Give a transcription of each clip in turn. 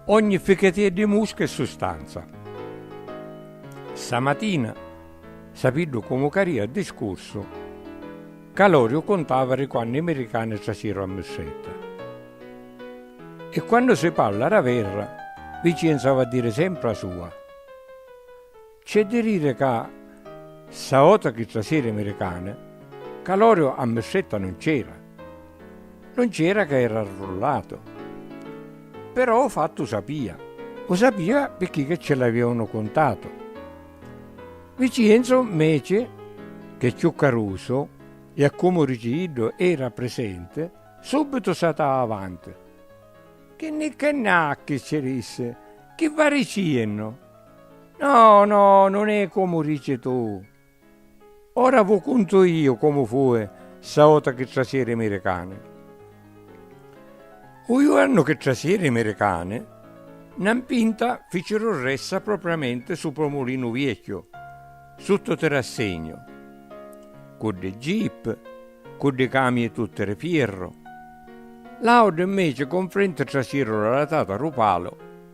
Ogni fichetia di musca è sustanza. Ssa matina, sapiddu comu caria a discursu, Caloriu cuntava di quannu i miricani trasiru a Mussedda. E quannu si parla d'averra, Vicenza ava a diri sempri a sua. C'è di riri ca ssa vota chi trasiri miricani, ca l'oriu a mistretta nun c'era. Nun c'era ca era arrullatu. Però u fattu u sapia. U sapia picchì che ce l'aviunu cuntatu. Vicienzu mmeci ch'è cchiù carusu e a comu dici iddu era prisenti, subitu satau avanti. Chi nni cchi nni ha chi ci dissi, chi va diciennu? No, no, non è comu dici tu. Ora vu cuntu io comu fue ssa vota chi trasiri i miricani. U juornu chi trasiri i miricani, na mpinta ficiru ressa propriamenti supra u Mulinu Viecchiu, sutta u tirassegnu, cu ddi jeep, cu ddi camii tutti ri fierru. L'auti mmeci confrenti trasiru la latata ru palu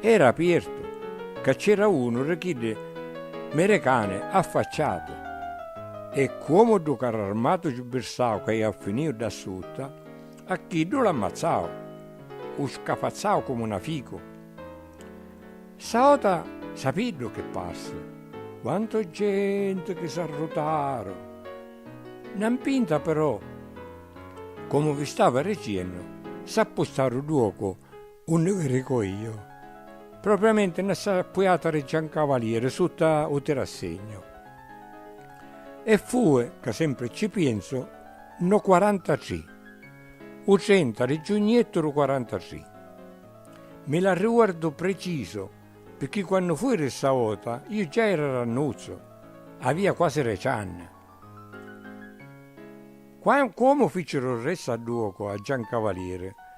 Era apiertu, ca c'era unu ri chiddi merecani affacciatu, e cuomu ddu carr'armatu ci birsau ca iau finiu dda sutta, a chiddu l'ammazzau, u scafazzau comu na ficu. Ssa ota sapiddu chi parsi, quantu genti chi s'arrutaru! Na mpinta però, comu vi stava riciennu, s'appustaru ddu ocu Unni vi rico io. Propriamenti nna sta puiata di Giancavalieri sutta u tirassegnu. E fui, ca sempri cci pienzu, nno quarantatri, u trenta di giugnettu du quarantatri. Mi l'arriuardu precisu, pirchì quannu fui di sta vota io già era rannuzzu, avia quasi deci anni. Qua, cuomu ficiru ri Sadduocu a Giancavalieri,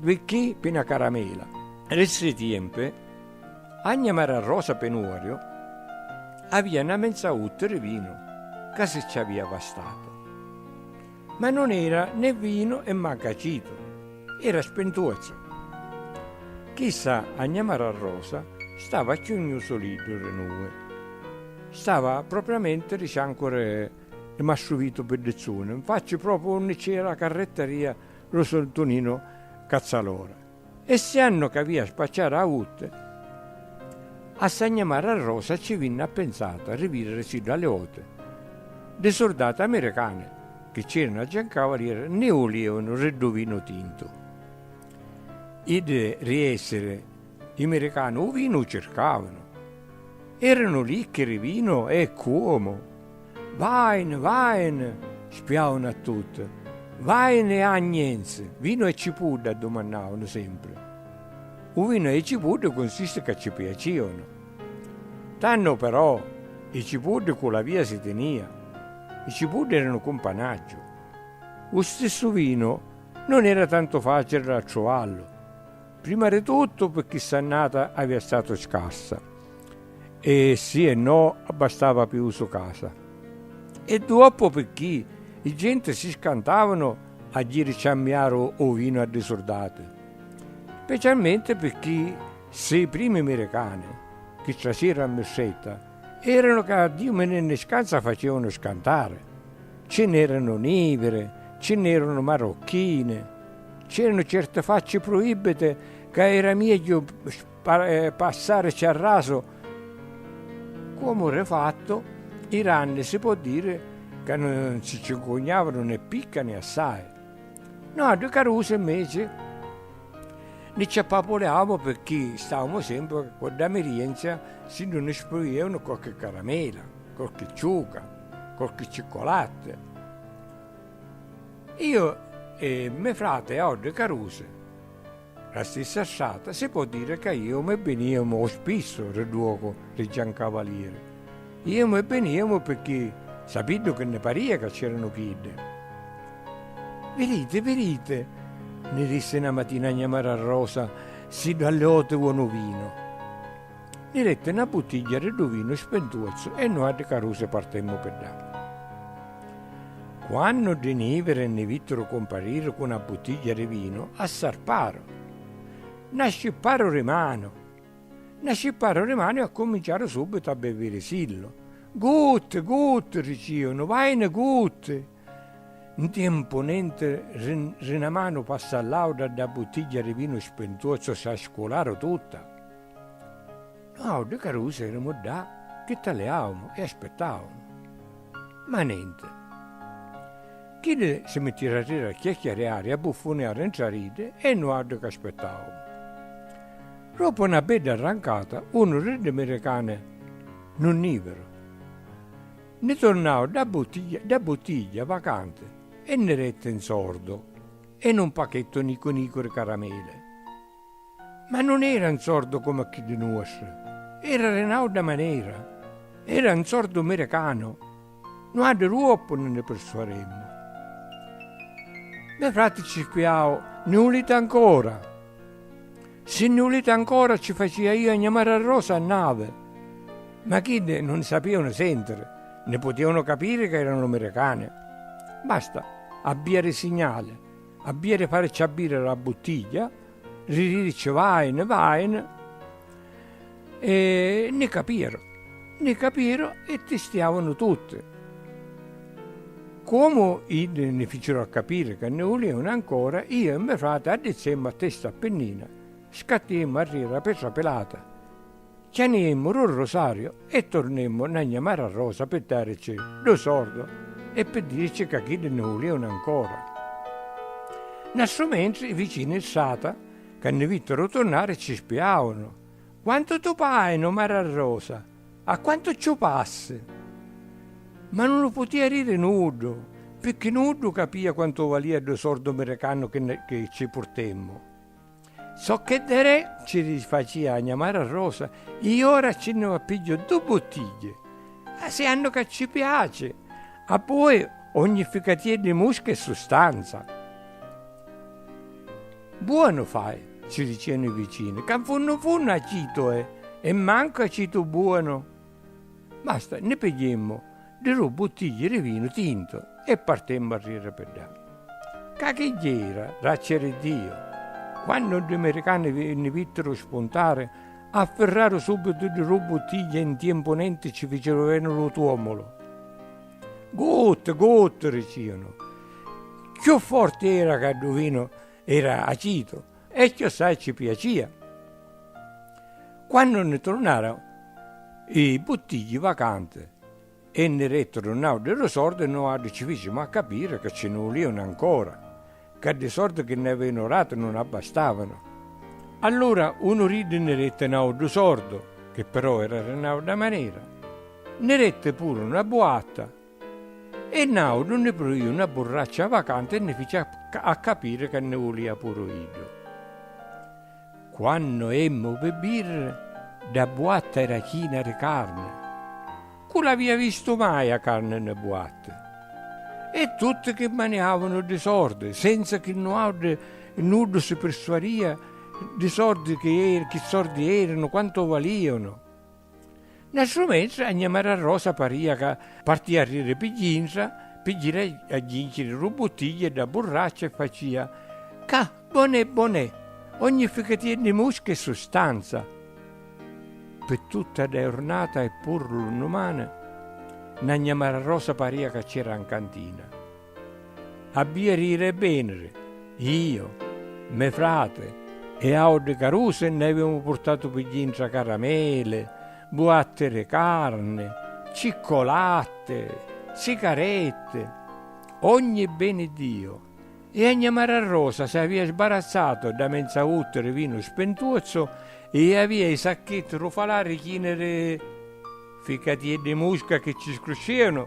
Vicchì pi na caramela. Li stri tiempi, agna mara rosa pi nuorio, avia na menza utti ri vinu, ca si ci avia vastatu. Ma non era né vinu e manca acitu, era spintuozzu. Chissa agna mara rosa stava a ciugnu suliddu ri nui. Stava propriamenti ri ciancu ri Mastru Vitu Piddizzuni, nfacci propriu unni ci era la carrettaria lu surtuninu cazzalora. E siannu c'avia spacciari a utte, a sagnamari a Rosa cci vinni appenzatu a rividiri siddu a li voti ddi surdati amiricani chi cc'eranu aggiancau a lira nni vulianu ri ddu vinu tintu. Iddi ri essiri i miricani u vinu u circavanu. Eranu licchi ri vinu e cuomu! Vine, vine! spiaunu a tutti. Vine e agnenzi, vinu e cipudda? addumannaunu sempri. U vinu e i cipuddi cunsisti ca ci piaciunu. Tannu però i cipuddi cu la via si tinia. I cipuddi eranu cumpanaggiu. U stissu vinu non era tantu facili da truvallu. Prima di tuttu pirchì st'annata avia statu scarsa e si e no abbastava pi usu casa e duoppu pirchì i genti si scantavanu a jiri ciammiaru u vinu a ddi surdati, specialmenti pirchì si primi miricani chi trasiru a mistretta eranu ca Diu mi nni scanza facievanu scantari, ci n'eranu niviri, ci n'eranu marocchini. C'eranu certi facci pruibbiti ca era miegghiu passarici a rasu. Comu ri fattu, i ranni si po' diri ca nun si ci 'ncugnavanu né picca né assai. Nuatri carusi, inveci, ni ci appapuliamu pirchì stavamu sempri cu dda mirienzia si nun ni spruianu qualchi caramela, qualchi ciuca, qualchi ciccolatti. Io e me frate a Odde Carusi, ra stissa strata, si po' dire ca iemu e biniemu o spissu ri duocu ri Giancavalieri. Iemu e biniemu pirchì sapiddu chi nni paria ca c'eranu chiddi. Virite, virite, nni dissi na matina a gnà Mara Rosa, siddu a li oti uonu vinu. Ni detti na buttigghia di ddu vinu spentuozzu e nuatri carusi partemmu pi ddà. Quannu ddi niviri nni vittiru cumpariri cu na buttigghia di vinu, assarparu. Na scipparu di manu! Na scipparu di manu e accuminciaru subbitu a bevirisillu. Gutti! Gutti! riciunu, vaini gutti! Ntiempu nenti ri na manu passa a l'autra dda buttigghia ri vinu spintuozzu si a scularu tutta. Nuautri carusi erimu ddà chi taliaumu e aspittaumu. Ma nenti. Chiddi si mittiru a riri a chiacchiariari e a buffuniari ntra r'iddi e nuautri c'aspittaumu. Roppu na bedda arrancata unu ri ddi miricani nun niviru. Nni tornau dda buttigghia, dda buttigghia vacanti e nni detti un sordu e nu mpachettu nicu nicu di carameli. Ma nun era un sordu comu a chiddi nuostri, era di n'auda manera, era un sordu miricanu, nu addu truoppu nun nni pirsuaremmu. Me frati cirquiau, Nni uliti ancora? Si nni vuliti ancora ci facia io a gnamari a Rosa a navi. Ma chiddi nun ni sapianu sentiri, ni putianu capiri ca eranu miricani. Basta, abbia ri signali, abbia ri fari ciabbiri la buttiglia, ri dirici vaini, vaini. E nni capiru, nni capiru e tistiavunu tutti. Comu iddi nni ficiru a capiri ca nni vulievunu ancora, iu e me frati addizzemmu a testa a pinnina, scattiemmu arriri a Petra Pilata, cianiemmu ru rosariu e turnemmu nna gna Mara Rosa pi darici du sordu e pi dirici ca chiddi nni vulievunu ancora. Nastru mentri i vicini strata ca nni vittiru turnari ci spiavunu. Quantu tu pai nu mararrosa, a quantu cciu passi! Ma nun lu putia riri nuddu, picchi nuddu capia quantu valia ddu sordu miricannu chi cci purtemmu. Socchè Derè cci rifacia a gna Mararrosa, i ora cci nni va pigghiu ddu buttigghie, asiannu ca cci piaci, abboi ogni ficatia di musca è sustanza. Buonu fai, ci dicenu i vicini, ca 'n funnu 'n funnu acitu è e mancu acitu buonu. Basta, nni pigghiemmu ddi du' buttigli di vinu tintu e partemmu a riri pi ddà. Ca chi jera, raceri Diu! Quannu ddi miricani nni vittiru spuntari, affirraru subitu ddi du' buttigli e 'n tiempu nenti ci ficiru veni lu tuomulu. Guttu, guttu! dicìanu. Cchiù forti era ca ddu vinu era acitu e cchiossai cci piacìa. Quannu nni trunnaru i buttigghi vacanti e nni rettu ddu nauddhu ddu sordu, nuaddhu cci ficimu a capiri ca cci nni vulìanu ancora. Ca ddi sordi chi nni avinu ratu nun abbastavanu. Allura unu d'iddi nni detti n'auddu sordu, chi però era di n'audda manera, nni detti puru na buatta e n'audu nni pruiu na burraccia vacanti e nni fici a capiri ca nni vulia puru iddu. Quannu emmu pi birra, dda buatta era china di carni. Cu l'avia vistu mai a carni nni buatta? E tutti chi maniavanu di sordi, senza chi nuauddi nuddu si pirsuaria di sordi chi sordi eranu, quantu valianu. Nastru mentri a gnamara Rosa paria ca partia a riri pi gintra pi jiri a jinciri ru buttigliu e dda burraccia e facia, Ca bon'è bon'è! Ogni ficatia di musca è sustanza! Pi tutta dda jurnata e puru lu nnumani, nna gnamara Rosa paria ca c'era 'n cantina. Abbia rire e venire, io, me frate e aoddi caruse nne avemu purtatu pi dintra caramele, buatte re carne, ciccolatte, sicarette, ogni beni Dio, e a gna Mara Rosa se avia sbarazzatu dda menza vutte re vinu spentuozzo e avia i sacchetti ru falari chini re Ficati iddi musca chi ci scruscìanu.